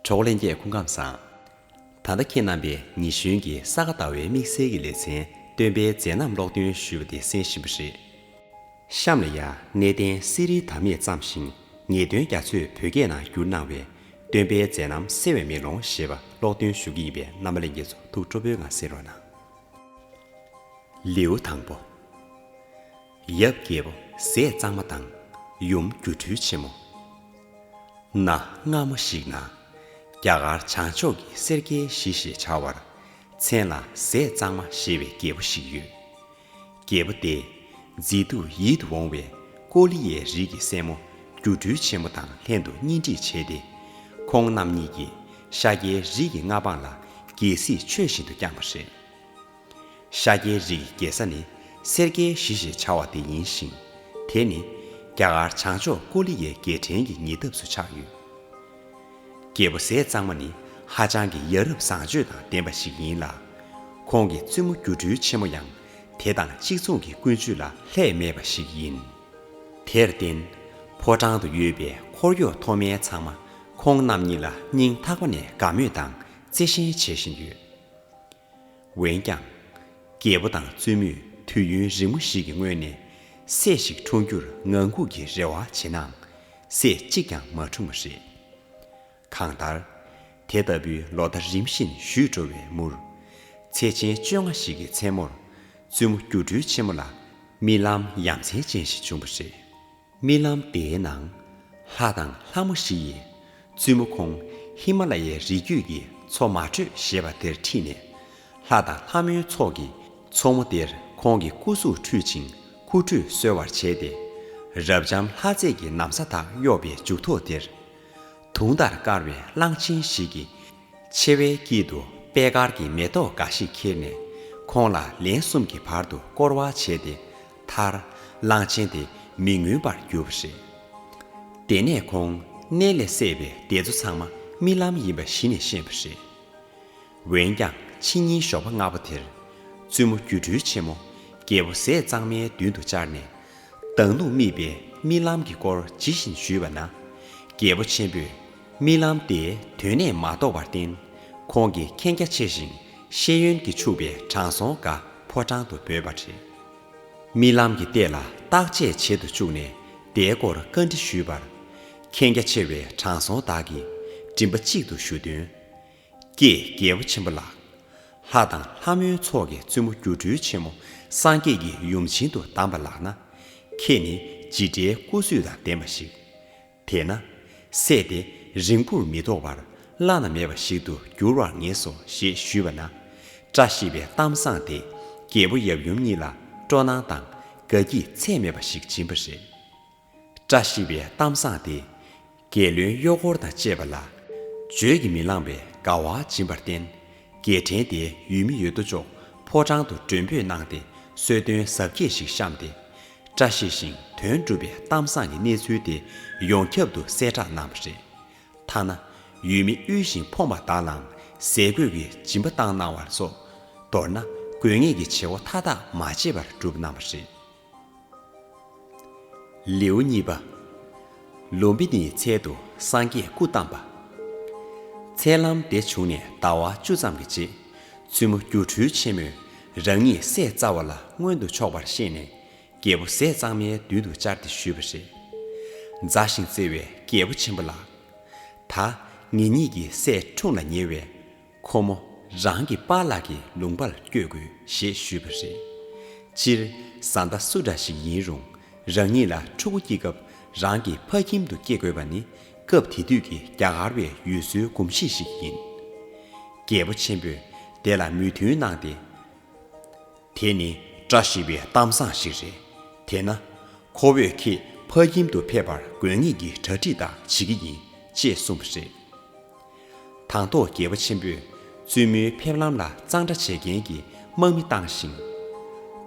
གྲོགས་ལྷན་རྒྱས་སྐུ་ཁམས་བཟང། ད་ལྟ་ཁྱེད་རྣམ་པས་ཉི་གཞོན་གྱི་ས་ག་ཟླ་བའི་དམིགས་བསལ་གྱི་ལེ་ཚན་སྟོན་པའི་མཛད་རྣམ་ཀློག་འདོན་ཞུས་པ་དེ་གསན་བཞིན་པ་རེད། གཤམ་ལ་ཡང་གནས་བརྟན་གསེར་རིའི་དར་མས་བརྩམས་ཤིང་ངེས་དོན་རྒྱ་མཚོས་བོད་སྐད་ནང་བསྒྱུར་གནང་བའི་སྟོན་པའི་མཛད་རྣམ་གསལ་བའི་མེ་ལོང་ཞེས་པ་ཀློག་འདོན་ཞུ་གི་ཡིན་པས་རྣམ་པ་ལེན་མཁན་ཚོ་ཐུགས་སྤྲོ་པོའི་ངང་གསན་རོགས་གནང། ལེའུ་དང་པོ། ཡབ་རྒྱལ་པོ་ཟས་གཙང་མ་དང་ཡུམ་སྒྱུ་འཕྲུལ་ཆེན་མོ། གནའ་སྔ་མོ་ཞིག་ན། རྒྱ་གར་བྱང་ཕྱོགས་ཀྱི་སེར་སྐྱའི་གཞི་ཞེས་བྱ་བར། མཚན་ལ་ཟས་གཙང་མ་ཞེས་པའི་རྒྱལ་པོ་ཞིག་ཡོད། རྒྱལ་པོ་དེས་མཛེས་སྡུག་ཡིད་དུ་འོང་བའི་ཀོ་ལི་ཡའི་རིགས་ཀྱི་སྲས་མོ་སྒྱུ་འཕྲུལ་ཆེན་མོ་དང་ལྷན་དུ་གཉེན་སྒྲིག་བྱས་ཏེ། ཁོང་རྣམ་གཉིས་ཀྱིས་ཤཱཀྱའི་རིགས་ཀྱི་མངའ་འབངས་ལ་རྒྱལ་སྲིད་ཆོས་བཞིན་དུ་བསྐྱངས་པ་རེད། ཤཱཀྱའི་རིགས་ཀྱི་རྒྱལ་ས་ནི་སེར་སྐྱའི་གཞི་ཞེས་བྱ་བ་དེ་ཡིན་ཞིང། དེ་ནི་རྒྱ་གར་བྱང་ཕྱོགས་ཀོ་ལི་ཡའི་རྒྱལ་ཕྲན་གྱི་ཉེ་འདབས་སུ་ཆགས་ཡོད། རྒྱལ་པོ་ཟས་གཙང་མ་ནི་ཧ་ཅང་གི་ཡ་རབས་བཟང་སྤྱོད་དང་ལྡན་པ་ཞིག་ཡིན་ལ། ཁོང་གི་བཙུན་མོ་སྒྱུ་འཕྲུལ་ཆེན་མོ་ཡང་དེ་དང་གཅིག་མཚུངས་ཀྱི་ཀུན་སྤྱོད་ལ་ལྷད་མེད་པ་ཞིག་ཡིན། དེར་བརྟེན། ཕོ་བྲང་དུ་ཡོད་པའི་འཁོར་གཡོག་མཐོ་དམན་ཚང་མ་ཁོང་རྣམ་གཉིས་ལ་སྙིང་ཐག་པ་ནས་དགའ་མོས་དང་བརྩེ་ཞེན་བྱེད་བཞིན་ཡོད། འོན་ཀྱང། རྒྱལ་པོ་དང་བཙུན་མོས་དུས་ཡུན་རིང་མོ་ཞིག་གི་སྔོན་ནས། སྲས་ཤིག་འཁྲུངས་རྒྱུར་ངང་སྒུག་གི་རེ་བ་བྱེད་ནའང། སྲས་གཅིག་ཀྱང་མ་འཁྲུངས་པ་རེད། གང་ལྟར། དེ་ལྟ་བུའི་ལོ་ཟླ་རིམ་བཞིན་བཞུད་འགྲོ་བའི་མུར། ཚེས་ཆེན་བཅོ་ལྔ་ཞིག་གི་མཚན་མོར། བཙུན་མོ་སྒྱུ་འཕྲུལ་ཆེན་མོ་ལ་རྨི་ལམ་ཡ་མཚན་ཅན་ཞིག་བྱུང་བ་རེད། རྨི་ལམ་དེའི་ནང། ལྷ་དང་ལྷ་མོ་བཞི་ཡིས་བཙུན་མོ་ཁོང་ཧི་མ་ལ་ཡའི་རི་རྒྱུད་ཀྱི་མཚོ་མ་དྲོས་ཞེས་པ་དེར་ཁྲིད་ནས། ལྷ་དང་ལྷ་མོའི་ཚོགས་ཀྱིས་མཚོ་མོ་དེར་ཁོང་གི་སྐུ་གཟུགས་ཁྲུས་ཅིང་ཁུ་ཁྲུས་གསོལ་བར་བྱས་ཏེ། རབ་འབྱམས་ལྷ་རྫས་ཀྱི་ནམ་ས་དག་གཡོགས་པའི་མཇུག་ཐོག་དེར། དུང་ལྟར་དཀར་བའི་གླང་ཆེན་ཞིག་གིས་མཆེ་བའི་དཀྱིལ་དུ་པད་དཀར་གྱི་མེ་ཏོག་འགའ་ཞིག་ཁྱེར་ནས། ཁོང་ལ་ལན་གསུམ་གྱི་བར་དུ་བསྐོར་བ་བྱས་ཏེ། མཐར། གླང་ཆེན་དེ་མི་ངུས་པར་གྱུར་པ་རེད། དེ་ནས་ཁོང་གནས་ལས་སད་པའི་སྡེ་ཚོ་ཚང་མ་རྨི་ལམ་ཡིན་པ་གཞི་ནས་ཤེས་པ་རེད། འོན་ཀྱང་ཕྱི་ཉིན་ཞོགས་པ་སྔ་པོ་དེར། བཙུན་མོ་སྒྱུ་འཕྲུལ་ཆེན་མོ་རྒྱལ་པོ་ཟས་གཙང་མའི་མདུན་དུ་བཅར་ནས། མདང་ནུབ་རྨིས་པའི་རྨི་ལམ་གྱི་སྐོར་ཇི་བཞིན་ཞུས་པ་ན། རྒྱལ་པོ་ཆེན་པོས་རྨི་ལམ་དེ་དོན་གནད་མ་རྟོགས་པར་བརྟེན། ཁོང་གིས་མཁྱེན་རྒྱ་ཆེ་ཞིང་ཤེས་ཡོན་གྱིས་ཕྱུག་པའི་དྲང་སྲོང་འགའ་ཕོ་བྲང་དུ་འབོད་པ་རེད། རྨི་ལམ་གྱི་ལྟས་ལ་བརྟག་དཔྱད་བྱེད་དུ་བཅུག་ནས་དེའི་སྐོར་བཀའ་འདྲི་ཞུས་པར། མཁྱེན་རྒྱ་ཆེ་བའི་དྲང་སྲོང་དག་གིས་མགྲིན་པ་གཅིག་ཏུ་ཞུ་དོན། ཀྱེ་རྒྱལ་པོ་ཆེན་པོ་ལགས། ལྷ་དང་ལྷ་མོའི་ཚོགས་ཀྱི་བཙུན་མོ་སྒྱུ་འཕྲུལ་ཆེན་མོ་སངས་རྒྱས་ཀྱི་ཡུམ་བྱིན་དུ་གདམས་པ་ལགས་ན། ཁྱེད་ནི་ཇི་འདྲའི་སྐུ་བསུས་དང་ལྡན་པ་ཞིག། དེས་ན། བསད་དེ་རིང་པོར་མི་ཐོགས་པར་བླ་ན་མེད་པ་ཞིག་ཏུ་འགྱུར་བར་ངེས་སོ་ཞེས་ཞུས་པ་ན། བཀྲ་ཤིས་པའི་གཏམ་བཟང་དེས་རྒྱལ་པོ་ཡབ་ཡུམ་གཉིས་ལ་སྤྲོ་སྣང་དང་དགའ་སྐྱིད་ཚད་མེད་པ་ཞིག་སྦྱིན་པ་རེད། བཀྲ་ཤིས་པའི་གཏམ་བཟང་དེས་རྒྱལ་བློན་གཡོག་འཁོར་དང་བཅས་པ་ལ། བརྗོད་ཀྱིས་མི་ལངས་པའི་དགའ་བ་སྦྱིན་པར་བརྟེན། རྒྱལ་ཕྲན་དེའི་ཡུལ་མི་ཡོད་དོ་ཅོག་ཕོ་བྲང་དུ་མགྲོན་འབོད་གནང་སྟེ་གསོལ་སྟོན་གཟབ་རྒྱས་ཤིག་བཤམས་ཏེ། བཀྲ་ཤིས་ཤིང་དོན་འགྲུབ་པའི་གཏམ་བཟང་གི་གནས་ཚུལ་དེ་ཡོངས་ཁྱབ་ཏུ་གསལ་བསྒྲགས་གནང་བ་རེད། ཐ་ན་ཡུལ་མི་དབུལ་ཞིང་ཕོངས་པ་དག་ལའང་ཟས་གོས་ཀྱི་སྦྱིན་པ་བཏང་གནང་བ་སོགས་མདོར་ན་དགོས་ངེས་ཀྱི་བྱེད་སྒོ་མཐའ་དག་མ་བརྗེད་པར་བསྒྲུབས་གནང་བ་རེད། ལེའུ་གཉིས་པ། ལུམ་བི་ནིའི་ཚལ་དུ་སངས་རྒྱས་སྐུ་བལྟམས་པ། མཚལ་ལམ་འདི་བྱུང་ནས་ཟླ་བ་བཅུ་ཙམ་གྱི་རྗེས། བཙུན་མོ་སྒྱུ་འཕྲུལ་ཆེན་མོས། རང་ཉིད་ཟས་བཙའ་བ་ལ་མངོན་དུ་ཕྱོགས་པར་ཤེས་ནས་རྒྱལ་པོ་ཟས་གཙང་མའི་མདུན་དུ་བཅར་ཏེ་ཞུས་པ། རེས་འཛའ་ཞིང་བརྩེ་བའི་རྒྱལ་པོ་ཆེན་པོ་ལགས། ད་ངེད་གཉིས་ཀྱི་ཟས་འཁྲུངས་ལ་ཉེ་བས། ཁོ་མོ་རང་གི་པཱ་ལགས་ཀྱི་ལུང་པར་བསྐྱོད་དགོས་ཞེས་ཞུས་པ། རེད། སྤྱིར་བཟའ་ཟླ་སུ་འདྲ་ཞིག་ཡིན་རུང་རང་ཉིད་ལ་ཕྲུ་གུ་སྐྱེ་སྐབས་རང་གི་ཕ་ཁྱིམ་དུ་སྐྱེ་དགོས་པ་ནི་སྐབས་དེ་དུས་ཀྱི་རྒྱ་གར་བའི་ཡུལ་སྲོལ་གོམས་གཤིས་ཤིག་ཡིན། རྒྱལ་པོ་ཆེན་པོས་དེ་ལ་མོས་མཐུན་གནང་སྟེ། དེ་ནི་བཀྲ་ཤིས་པའི་གཏམ་བཟང་ཞིག་རེད། དེས་ན། ཁོ་བོས་ཁྱེད་ཕ་ཁྱིམ་དུ་ཕེབས་པར་དགོས་ངེས་ཀྱི་གྲ་སྒྲིག་དག་བྱེད་ཀྱི་ཡིན་ཅེས་གསུངས་པ་རེད། དང་ཐོག་རྒྱལ་པོ་ཆེན་པོས་བཙུན་མོའི་ཕེབས་ལམ་ལ་གཙང་སྦྲ་བྱེད་མཁན་གྱི་དམག་མི་བཏང་ཞིང།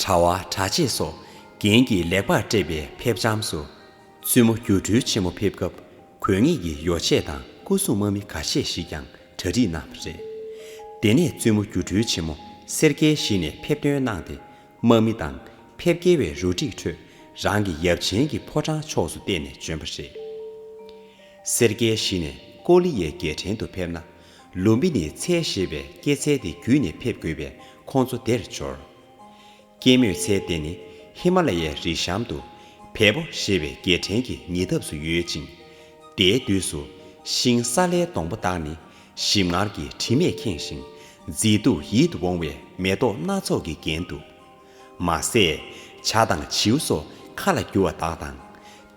གྲྭ་བ་གྲྭ་ཆས་སོགས་རྒྱན་གྱིས་ལེགས་པར་སྤྲས་པའི་ཕེབས་བྱམས་སུ། བཙུན་མོ་སྒྱུ་འཕྲུལ་ཆེན་མོ་ཕེབས་སྐབས་གོས་ངེས་ཀྱི་ཡོ་བྱད་དང་སྐུ་སྲུང་དམག་མི་ཁ་ཤས་ཤིག་ཀྱང་གྲ་སྒྲིག་གནང་བ་རེད། དེ་ནས་བཙུན་མོ་སྒྱུ་འཕྲུལ་ཆེན་མོ་སེར་སྐྱའི་གཞི་ནས་ཕེབས་ཐོན་གནང་སྟེ་དམག་མི་དང་ཕེབས་སྐྱེལ་བའི་རུ་སྒྲིག་ཁྲོད་རང་གི་ཡབ་ཆེན་གྱི་ཕོ་བྲང་ཕྱོགས་སུ་བལྟས་ནས་བྱོན་པ་རེད། སེར་སྐྱའི་གཞི་ནས་ཀོ་ལི་ཡའི་རྒྱལ་ཕྲན་དུ་ཕེབས་ན་ལུམ་བི་ནི་ཚལ་ཞེས་པའི་སྐྱེད་ཚལ་དེ་བརྒྱུད་ནས་ཕེབས་དགོས་པས་ཁོང་ཚོ་དེར་འབྱོར། སྐྱེད་མོས་ཚལ་དེ་ནི་ཧི་མ་ལ་ཡའི་རི་གཤམ་དུ། བལ་པོ་ཞེས་པའི་རྒྱལ་ཕྲན་གྱི་ཉེ་འདབས་སུ་ཡོད་ཅིང། དེའི་དུས་སུ། ཤིང་སཱ་ལའི་སྡོང་པོ་དག་ནི། ཞིམ་མངར་གྱི་དྲི་མས་ཁེངས་ཤིང། མཛེས་སྡུག་ཡིད་དུ་འོང་བའི་མེ་ཏོག་སྣ་ཚོགས་ཀྱིས་བརྒྱན་འདུག། མ་ཟད། བྱ་དང་བྱིའུ་སོགས་ཁ་ལ་རྒྱུ་བ་དག་དང།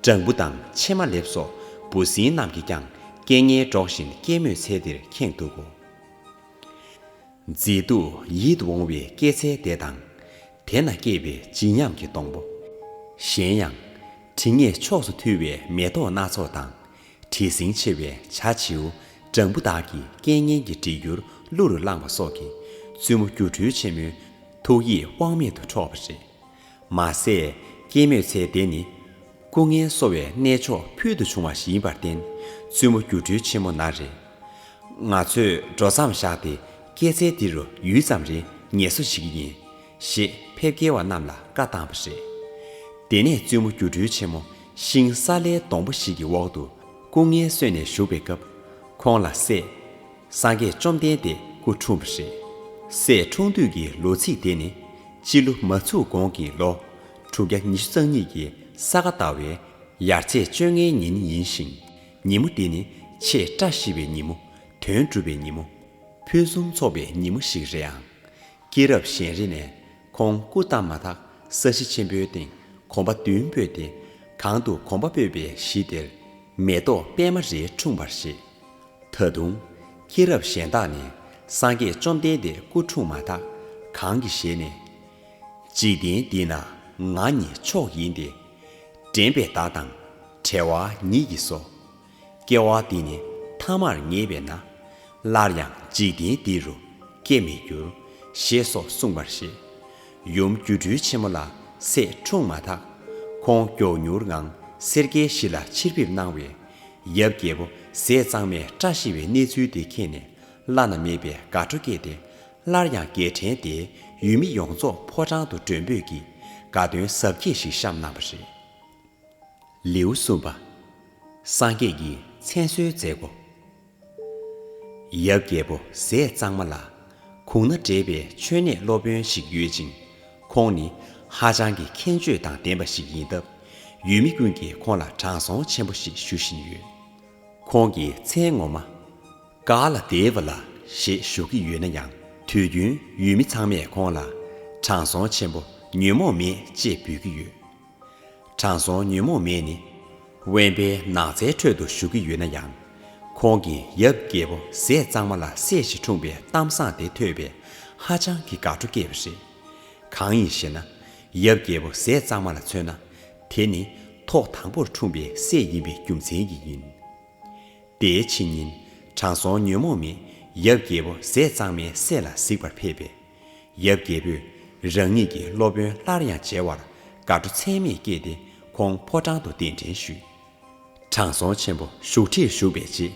སྦྲང་བུ་དང་ཕྱེ་མ་ལེབ་སོགས་འབུ་སྲིན་རྣམས་ཀྱིས་ཀྱང་སྐད་ངན་སྒྲོག་བཞིན་སྐྱེད་མོས་ཚལ་འདིར་ཁེངས་འདུག་གོ། མཛེས་སྡུག་ཡིད་འོང་བའི་སྐྱེད་ཚལ་བདེ་དང། དེ་ན་སྐྱེས་པའི་བརྗིད་ཉམས་ཀྱི་སྡོང་པོ། གཞན་ཡང། དྲི་ངད་ཕྱོགས་སུ་འཐུལ་བའི་མེ་ཏོག་སྣ་ཚོགས་དང། དྲི་ཟིང་ཆེ་བའི་བྱ་བྱིའུ་སྦྲང་བུ་དག་གིས་སྐད་སྙན་གྱི་བྲིས་འགྱུར་གླུ་རུ་བླངས་པ་སོགས་ཀྱིས་བཙུན་མོ་སྒྱུ་འཕྲུལ་ཆེན་མོའི་ཐུགས་ཡིད་དབང་མེད་དུ་འཕྲོག་པ་རེད། མ་ཟད་སྐྱེད་མོས་ཚལ་དེ་ནི། སྐུ་ངལ་གསོ་བའི་གནས་མཆོག་ཕུལ་དུ་བྱུང་བ་ཞིག་ཡིན་པར་བརྟེན་བཙུན་མོ་སྒྱུ་འཕྲུལ་ཆེན་མོ་ན་རེ། ང་ཚོས་འགྲོ་མཚམས་བཞག་སྟེ་སྐྱེད་ཚལ་འདི་རུ་ཡུད་ཙམ་རེ་ངལ་གསོ་བྱེད་ཀྱི་ཡིན། ཞེས་ཕེབས་སྐྱེལ་བ་རྣམས་ལ་བཀའ་བཏང་བ་རེད། དེ་ནས་བཙུན་མོ་སྒྱུ་འཕྲུལ་ཆེན་མོ་ཤིང་སཱ་ལའི་སྡོང་པོ་ཞིག་གི་འོག་ཏུ་སྐུ་ངལ་གསོས་ནས་བཞུགས་པའི་སྐབས། ཁོང་ལ་སྲས། སངས་རྒྱས་བཅོམ་ལྡན་འདས་སྐུ་འཁྲུངས་པ་རེད། སྲས་འཁྲུངས་དུས་ཀྱི་ལོ་ཚིགས་དེ་ནི། སྤྱི་ལོ་མ་ཚུགས་གོང་གི་ལོ་དྲུག་བརྒྱ་ཉི་ཤུ་རྩ་གཉིས་ཀྱི་ས་ག་ཟླ་བའི་ཡར་ཚེས་བཅོ་ལྔའི་ཉིན་ཡིན་ཞིང། ཉིན་མོ་འདི་ནི་ཆེས་བཀྲ་ཤིས་པའི་ཉིན་མོ། དོན་འགྲུབ་པའི་ཉིན་མོ། ཕུན་སུམ་ཚོགས་པའི་ཉིན་མོ་ཞིག་རེད་ཨང། སྐྱེས་རབས་གཞན་རིགས་ནས་ཁོང་སྐུ་བལྟམས་མ་ཐག་ས་གཞི་ཆེན་པོའི་སྟེང་གོམ་པ་བདུན་སྤོས་ཏེ། གང་དུ་གོམ་པ་སྤོས་པའི་གཞི་དེར། མེ་ཏོག་པད་མ་རེ་འཁྲུངས་པར་བཞེད། ད་དུང། མཁྱེན་རབ་གཞན་དག་ནི། སངས་རྒྱས་བཅོམ་ལྡན་འདས་སྐུ་འཁྲུངས་མ་ཐག་གང་གི་ཞལ་ནས། འཇིག་རྟེན་འདི་ན་ང་ཉིད་མཆོག་ཡིན་ཏེ། དྲན་པའི་བདག་དང་བྲལ་བ་ཉིད་ཀྱིས་སོ། སྐྱེ་བ་འདི་ནི་ཐ་མར་ངེས་པས་ན། སླར་ཡང་འཇིག་རྟེན་འདི་རུ་སྐྱེ་མི་འགྱུར། ཞེས་སོགས་གསུངས་པར་བཞེད། ཡུམ་སྒྱུ་འཕྲུལ་ཆེན་མོ་ལ་སྲས་འཁྲུངས་མ་ཐག། ཁོང་མགྱོགས་མྱུར་ངང་སེར་སྐྱའི་གཞི་ལ་ཕྱིར་ཕེབས་གནང་བས། ཡབ་རྒྱལ་པོ་ཟས་གཙང་མས་སྐྲ་ཤི་བའི་གནས་ཚུལ་དེ་མཁྱེན་ནས་བླ་ན་མེད་པའི་དགའ་སྤྲོ་སྐྱེས་ཏེ། སླར་ཡང་རྒྱལ་ཕྲན་དེས་ཡུལ་མི་ཡོངས་རྫོགས་ཕོ་བྲང་དུ་མགྲོན་འབོད་ཀྱིས་དགའ་སྟོན་ཟབ་རྒྱས་ཤིག་བཤམས་གནང་བ་རེད། ལེའུ་གསུམ་པ། སངས་རྒྱས་ཀྱི་མཚན་གསོལ་མཛད་སྒོ། ཡབ་རྒྱལ་པོ་ཟས་གཙང་མ་ལགས། གུང་ན་འདྲེས་པའི་མཆོད་གནས་སློབ་དཔོན་ཞིག་ཡོད་ཅིང། ཁོང་ནི་ཧ་ཅང་གི་མཁྱེན་དཔྱོད་དང་ལྡན་པ་ཞིག་ཡིན་སྟབས། ཡུལ་མི་ཀུན་གྱིས་ཁོང་ལ་དྲང་སྲོང་ཆེན་པོ་ཞེས་ཞུ་བཞིན་ཡོད། ཁོང་གི་མཚན་ངོ་མ། ཀ་ལ་སྡེ་བ་ལགས་ཞེས་ཞུ་གི་ཡོད་ན་ཡང་དུས་རྒྱུན་ཡུལ་མི་ཚང་མས་ཁོང་ལ། དྲང་སྲོང་ཆེན་པོ་ཉོན་མོངས་མེད་ཅེས་འབོད་ཀྱི་ཡོད། དྲང་སྲོང་ཉོན་མོངས་མེད་ནི། དབེན་པའི་ནགས་ཚལ་ཁྲོད་དུ་བཞུགས་ཀྱི་ཡོད་ན་ཡང། ཁོང་གིས་ཡབ་རྒྱལ་པོ་ཟས་གཙང་མ་ལ་སྲས་ཤིག་འཁྲུངས་པའི་གཏམ་བཟང་དེ་ཐོས་པས་ཧ་ཅང་གི་དགའ་སྤྲོ་སྐྱེས་པ་རེད། གང་ཡིན་ཞེ་ན། ཡབ་རྒྱལ་པོ་ཟས་གཙང་མ་ལ་མཚོན་ན། དེ་ནི་ཐོག་དང་པོར་འཁྲུངས་པའི་སྲས་ཡིན་པའི་རྒྱུ་མཚན་གྱིས་ཡིན། དེའི་ཕྱི་ཉིན། དྲང་སྲོང་ཉོན་མོངས་མེད་ཡབ་རྒྱལ་པོ་ཟས་གཙང་མའི་སྲས་ལ་གཟིགས་པར་ཕེབས་པས། ཡབ་རྒྱལ་པོས་རང་ཉིད་ཀྱི་སློབ་དཔོན་སླར་ཡང་མཇལ་བར་དགའ་སྤྲོ་ཚད་མེད་སྐྱེས་ཏེ་ཁོང་ཕོ་བྲང་དུ་གདན་འདྲེན་ཞུས། དྲང་སྲོང་ཆེན་པོ་བཞུགས་ཁྲིར་བཞུགས་པའི་རྗེས།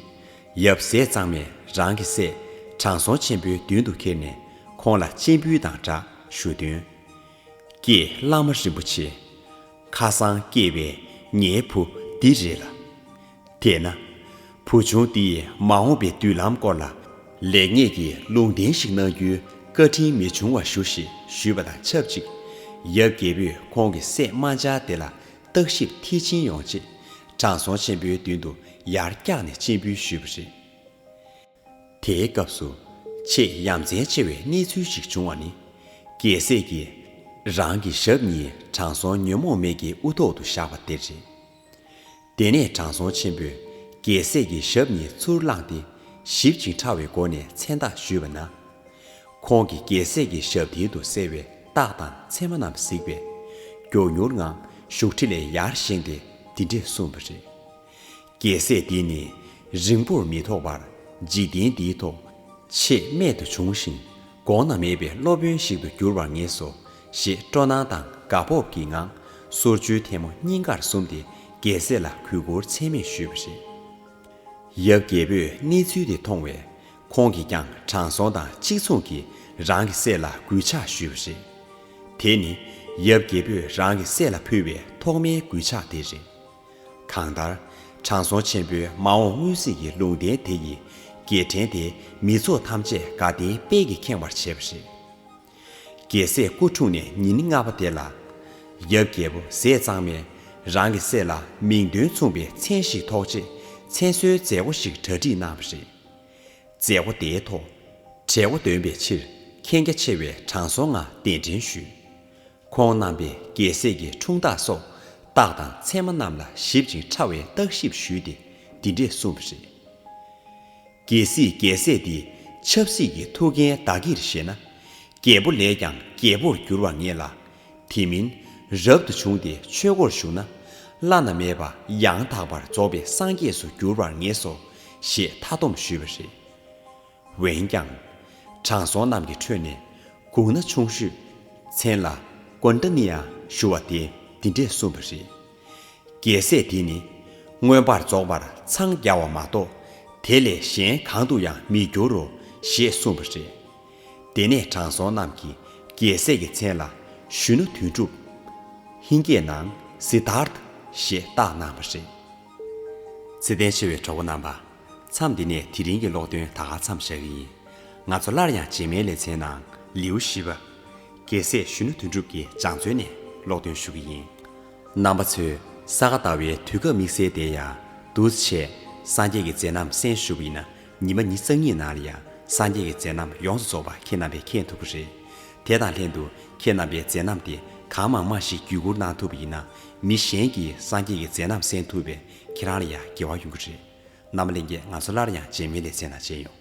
ཡབ་སྲས་གཙང་མས་རང་གི་སྲས་དྲང་སྲོང་ཆེན་པོའི་མདུན་དུ་ཁྱེར་ནས་ཁོང་ལ་སྤྱན་འབུལ་དང་སྦྲགས་ཞུ་དོན། ཀྱེ་བླ་མ་རིན་པོ་ཆེ། ཁ་སང་སྐྱེས་པའི་ངའི་བུ་འདི་རེད་ལ། དེས་ན། བུ་ཆུང་འདིས་མ་འོངས་པའི་མདུན་ལམ་སྐོར་ལ། ལེགས་ཉེས་ཀྱི་ལུང་བསྟན་ཞིག་གནང་རྒྱུའི་བཀའ་དྲིན་མི་འབྱུང་བ་ཞུ་ཞེས་ཞུས་པ་དང་ཆབས་ཅིག། ཡབ་རྒྱལ་པོས་ཁོང་གི་སྲས་རྨ་བྱ་དེ་ལ་བརྟག་ཞིབ་མཐིལ་ཕྱིན་ཡོང་ཆེད་དྲང་སྲོང་ཆེན་པོའི་མདུན་དུ་ཡར་བཀྱགས་ནས་སྤྱན་འབུལ་ཞུས་པ་རེད། དེའི་སྐབས་སུ་ཆེས་ཡ་མཚན་ཆེ་བའི་གནས་ཚུལ་ཞིག་བྱུང་བ་ནི། རྒྱལ་སྲས་ཀྱིས་རང་གི་ཞབས་གཉིས་དྲང་སྲོང་ཉོན་མོངས་མེད་ཀྱི་དབུ་ཐོག་ཏུ་བཞག་པ་དེ་རེད། དེ་ནས་དྲང་སྲོང་ཆེན་པོས་རྒྱལ་སྲས་ཀྱི་ཞབས་གཉིས་ཚུར་བླངས་ཏེ་ཞིབ་ཅིང་ཕྲ་བའི་སྒོ་ནས་མཚན་རྟགས་ཞུས་པ་ན། ཁོང་གིས་རྒྱལ་སྲས་ཀྱི་ཞབས་མཐིལ་དུ་གསལ་བའི་རྟགས་དང་མཚན་མ་རྣམས་གཟིགས་པས། མགྱོགས་མྱུར་ངང་བཞུགས་ཁྲི་ལས་ཡར་བཞེངས་ཏེ་འདི་འདྲས་གསུངས་པ་རེད། རྒྱལ་སྲས་འདི་ནི་རིང་པོར་མི་ཐོགས་པར་འཇིག་རྟེན་འདིའི་ཐོག་ཆེས་རྨད་དུ་བྱུང་ཞིང་དགོངས་ན་མེད་པའི་སློབ་དཔོན་ཞིག་ཏུ་འགྱུར་བར་ངེས་སོ་ཞེས་སྤྲོ་སྣང་དང་དགའ་སྤོབས་ཀྱི་ངང་གསོལ་བཅོལ་ཐལ་མོ་སྙིང་གར་ཟུམ་སྟེ་རྒྱལ་སྲས་ལ་གུས་བཀུར་ཚད་མེད་ཞུས་པ་རེད། ཡབ་རྒྱལ་པོས་གནས་ཚུལ་དེ་མཐོང་བས་ཁོང་གིས་ཀྱང་དྲང་སྲོང་དང་གཅིག་མཚུངས་ཀྱིས་རང་གི་སྲས་ལ་གུས་ཕྱག་ཞུས་པ་རེད། དེ་ནི་ཡབ་རྒྱལ་པོས་རང་གི་སྲས་ལ་ཕུལ་བའི་ཐོག་མའི་གུས་ཕྱག་དེ་རེད། གང་ལྟར། དྲང་སྲོང་ཆེན་པོའི་མ་འོངས་སྔོན་གཟིགས་ཀྱི་ལུང་བསྟན་དེ་ཡི་རྒྱལ་ཕྲན་དེ་མི་ཚོགས་ཐམས་ཅད་དགའ་ལྡན་དཔལ་གྱིས་ཁེངས་བར་བྱས་པ་རེད། རྒྱལ་སྲས་སྐུ་འཁྲུངས་ནས་ཉིན་ལྔ་པ་དེ་ལ། ཡབ་རྒྱལ་པོ་ཟས་གཙང་མས་རང་གི་སྲས་ལ་མིང་དོན་མཚུངས་པའི་མཚན་ཞིག་ཐོགས་རྗེས་མཚན་གསོལ་མཛད་སྒོ་ཞིག་གྲ་སྒྲིག་གནང་བ་རེད། མཛད་སྒོ་དེའི་ཐོག། གྲལ་མགོ་འདོན་པའི་ཕྱིར་མཁྱེན་རྒྱ་ཆེ་བའི་དྲང་སྲོང་ལྔ་གདན་འདྲེན་ཞུས། ཁོང་རྣམ་པས་རྒྱལ་སྲས་ཀྱི་འཁྲུངས་རྟགས་སོགས་རྟགས་དང་མཚན་མ་རྣམས་ལ་ཞིབ་ཅིང་ཕྲ་བའི་བརྟག་ཞིབ་ཞུས་ཏེ་འདི་འདྲས་གསུངས་པ་རེད། རྒྱལ་སྲིད་རྒྱལ་སྲས་འདི་ཆབ་སྲིད་ཀྱི་ཐུགས་འགན་བདག་གིར་བཞེས་ན། རྒྱལ་པོ་ལས་ཀྱང་རྒྱལ་པོར་འགྱུར་བར་ངེས་ལ། དེ་མིན་རབ་ཏུ་བྱུང་སྟེ་ཆོས་སྒོར་ཞུགས་ན། བླ་ན་མེད་པ་ཡང་དག་པར་རྫོགས་པའི་སངས་རྒྱས་སུ་འགྱུར་བར་ངེས་སོ་ཞེས་མཐའ་སྡོམ་ཞུས་པ་རེད། འོན་ཀྱང། དྲང་སྲོང་རྣམས་ཀྱི་ཁྲོད་ནས། གུང་ན་ཆུང་ཤོས། མཚན་ལ། ཀོན་ཏཱ་ནི་ཡང་ཞུ་བ་དེས་འདི་འདྲས་གསུངས་པ་རེད། རྒྱལ་སྲས་འདི་ནི། མངོན་པར་རྫོགས་པར་འཚང་རྒྱ་བ་མ་གཏོགས། དེ་ལས་གཞན་གང་དུ་ཡང་མི་འགྱུར་རོ། ཞེས་གསུངས་པ་རེད། དེ་ནས་དྲང་སྲོང་རྣམས་ཀྱིས་རྒྱལ་སྲས་ཀྱི་མཚན་ལ། ཞུ་ན་དོན་གྲུབ། ཧིན་སྐད་ནང། Siddharth། ཞེས་བཏགས་གནང་བ་རེད། ཚེ་ལྡན་ཆེ་བའི་གྲོགས་པོ་རྣམ་པ། མཚམས་འདི་ནས་དེ་རིང་གི་ཀློག་འདོན་ད་ག་མཚམས་བཞག་གི་ཡིན། ང་ཚོ་སླར་ཡང་རྗེས་མའི་ལེ་ཚན་ནང་ལེའུ་བཞི་པ། རྒྱལ་སྲས་གཞོན་ནུ་དོན་གྲུབ་ཀྱི་སྦྱངས་བརྩོན་ནས་ཀློག་འདོན་ཞུ་གི་ཡིན། རྣམ་པ་ཚོས་ས་ག་ཟླ་བའི་དུས་སྐབས་དམིགས་བསལ་བདེ་ཡག། འདུས་བྱས། སངས་རྒྱས་ཀྱི་མཛད་རྣམ་གསན་ཞུ་བའི་ན་ཉི་མ་ཉིས་རྩ་གཉིས་ནང་ལ་ཡང་སངས་རྒྱས་ཀྱི་མཛད་རྣམ་ཡོངས་སུ་རྫོགས་པ་ཁྱེད་རྣམ་པས་མཁྱེན་ཐུབ་ཀྱི་རེད། དེ་དང་ལྷན་དུ་ཁྱེད་རྣམ་པའི་མཛད་རྣམ་དེ་གང་མང་མང་ཞིག་བརྒྱུད་བསྐུར་གནང་ཐུབ་པ་ཡིན་ན་མི་གཞན་གྱིས་སངས་རྒྱས་ཀྱི་མཛད་རྣམ་གསན་ཐུབ་པས་ཁྱེད་རང་ལ་ཡང་དགེ་བ་ཡོང་གི་རེད། རྣམ་པ་གླེང་སྐད་ང་ཚོ་སླར་ཡང་རྗེས་མི་ལས་ཚེ་ན་སྤྱད་ཡོང།